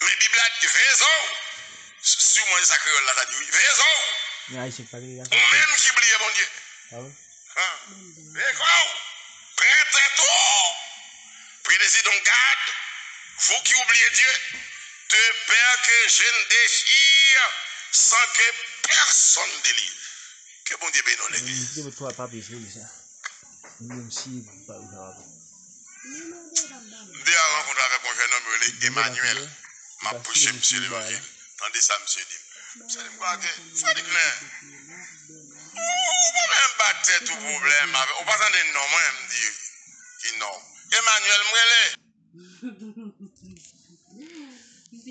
Men bib la di veye zò w. Sûrement se sa kreyol la ta di wi. Veye zò w. Ou menm ki bliye Bondye. Veye kò w. Pran tèt ou. Prie de Zidon gad, vous qui oubliez Dieu, de peur que je ne déchire sans que personne délivre. Ke Bondye beni w legliz. 2 a rankontre avèk yon jènòm yo rele Emanyèl, m ap preche misye levanjil. Tande sa misye di m, misye di m konsa ke, Fredi Klè, ou pa menm ba tèt ou pwoblèm avèk, ou pa tande non mwen? M di, Ki non w? Emanyèl m rele!